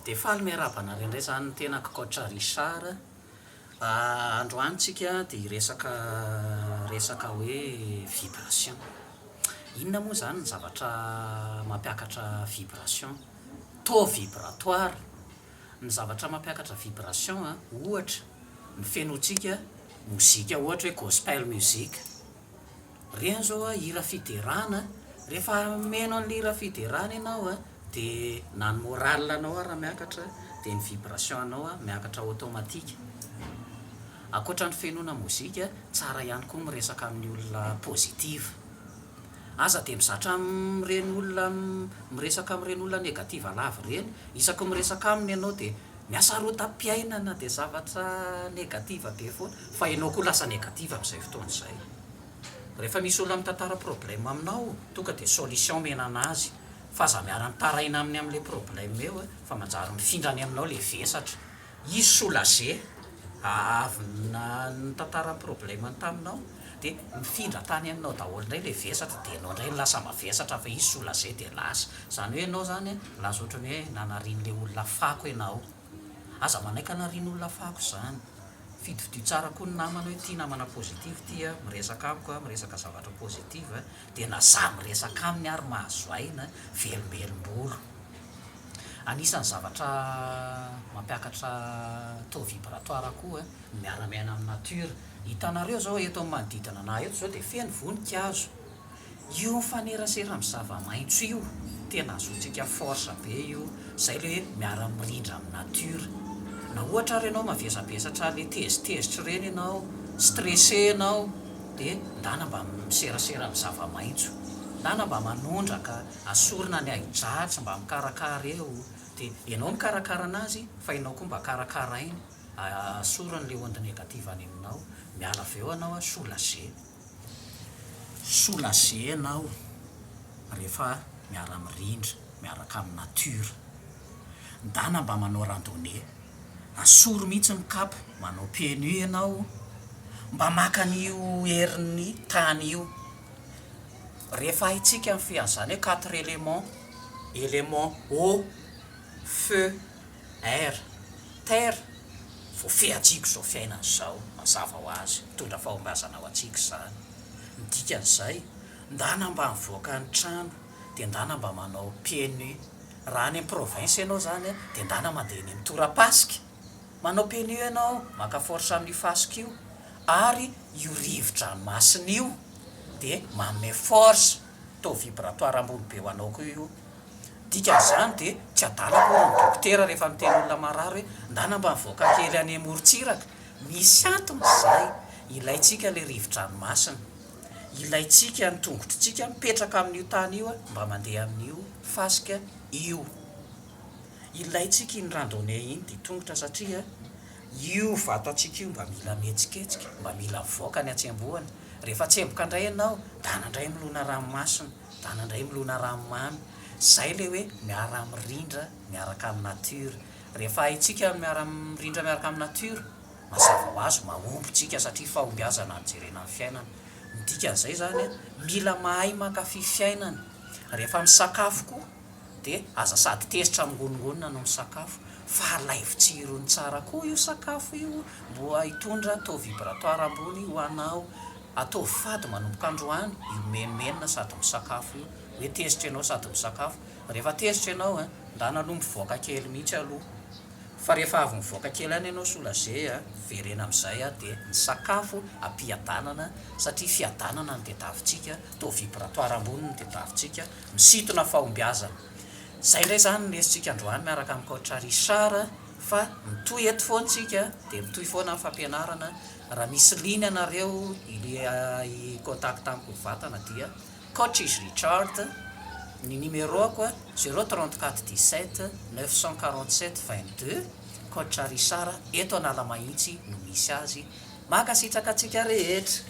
Dia faly miarahaba anareo indray izany ny tenako Coach Richard. Androany tsika dia hiresaka resaka hoe vibration. Inona moa izany ny zavatra mampiakatra vibration? Taux vibratoire, ny zavatra mampiakatra vibration ohatra ny fenontsika mozika ohatra hoe gospel music. Ireny zao a hira fiderana a, rehefa miheno an'ilay hira fiderana ianao a, dia na ny moral anao ara miakatra dia ny vibration anao a miakatra automatique. Ankoatra ny fihenoana mozika, tsara ihany koa miresaka amin'ny olona positive. Aza dia mizatra amin'ireny olona miresaka amin'ireny olona negative lava ireny, isaky ny miresaka aminy ianao dia mihasarotam-piainana dia zavatra negative be foana, fa ianao koa lasa negative amin'izay fotoana izay. Rehefa misy olona mitantara problème aminao tonga dia solution omena anazy fa aza miara mitaraina aminy amin'ilay problème eo eh fa manjary mifindra any aminao ilay vesatra. Izy soulager ah avy nitantara problème-ny taminao dia mifindra tany aminao daholo indray ilay vesatra dia ianao indray no lasa mavesatra fa izy soulager dia lasa. Izany hoe ianao izany lasa ohatran'ny hoe nanarian'ilay olona fako ianao. Aza manaiky hanarian'olona fako zany. Fidifidio tsara koa ny namana hoe ity namana positive ity a, miresaka amiko a, miresaka zavatra positive a, dia na za miresaka aminy ary mahazo aina, velombelom-bolo. Anisan'ny zavatra mampiakatra taux vibratoire koa ny miara-miaina amin'ny nature. Hitanareo zao eto amin'ny manodidina anah eto zao dia feno voninkazo. Io mifanerasera amin'ny zava-maitso io tena azotsika force be io, zay le hoe miara mirindra amin'ny nature. Na ohatra ary ianao mavesabesatra le tezitezitra ireny ianao, stressé ianao de ndana mba miserasera amin'ny zava-maitso, ndana mba manondraka, asorina ny ahi-dratsy, mba mikarakara eo, de ianao mikarakara anazy fa ianao koa mba karakarainy, asoriny le onde négative any aminao, miala avy eo ianao soulagé. Soulagena aho rehefa miara mirindra miaraka amin'ny nature. Ndana mba manao randonnée. Asoro mihitsy ny kapa, manao pieds nus ianao, mba maka an'io herin'ny tany io. Rehefa haintsika ny fihazana hoe quatre éléments, élément eau, feu. Air, Terre, voafehantsika izao fiainana izao, mazava ho azy, mitondra fahombiazana ho antsika izany. Ny dikan'izay, ndana mba mivoaka ny trano, dia ndana mba manao pieds nus. Raha any amin'ny province ianao izany an, dia ndana mandeha eny amin'ny torapasika, manao pieds nus ianao, maka force amin'io fasika io, ary io rivo-dranomasina io dia manome force, taux vibratoire ambony be ho anao koa io, dikan'izany dia tsy adala akory ny dokotera rehefa miteny olona marary hoe ndana mba mivoaka kely any amorontsiraka, misy antony izay, ilaintsika ilay rivo-dranomasina, ilaintsika ny tongotritsika mipetraka amin'io tany io mba mandeha amin'io fasika io, ilaintsika iny randonnée iny ditongotra satria Io vatantsika io mba mila mihetsiketsika, mba mila mivoaka ny hatsembohana. Rehefa tsemboka indray ianao, dana indray milona ranomasina, dana indray milona ranomamy. Izay ilay hoe miara-mirindra miaraka amin'ny natiora. Rehefa haintsika ny miara-mirindra miaraka amin'ny natiora, mazava ho azy mahomby isika satria fahombiazana no jerena ny fiainana. Ny dikan'izay izany, mila mahay mankafy fiainana. Rehefa misakafo koa, dia aza sady tezitra mingoningonina no misakafo fa alaivo tsirony tsara koa io sakafo io mboa hitondra taux vibratoire ambony ho anao, ataovy fady manomboka androany io menomenona sady misakafo io, hoe tezitra ianao sady misakafo, rehefa tezitra ianao an, ndana aloha mivoaka kely mihitsy aloha, fa rehefa avy mivoaka kely any ianao soulager an, verena amin'izay an, dia ny sakafo ampiadanana satria fiadanana ny tetavintsika, taux vibratoire ambony ny tetavintsika, Misintona fahombiazana. Izay indray izany no lesontsika androany miaraka amin'i Coach Richard fa mitohy eto foana isika dia mitohy foana ny fampianarana. Raha misy liana ianareo hi-contact amiko mivantana dia Coach is Richard, ny numéro-ko zéro trente quatre dix sept neuf cent quarante sept vingt deux, Coach Richard eto Analamahitsy no misy azy. Mankasitraka antsika rehetra.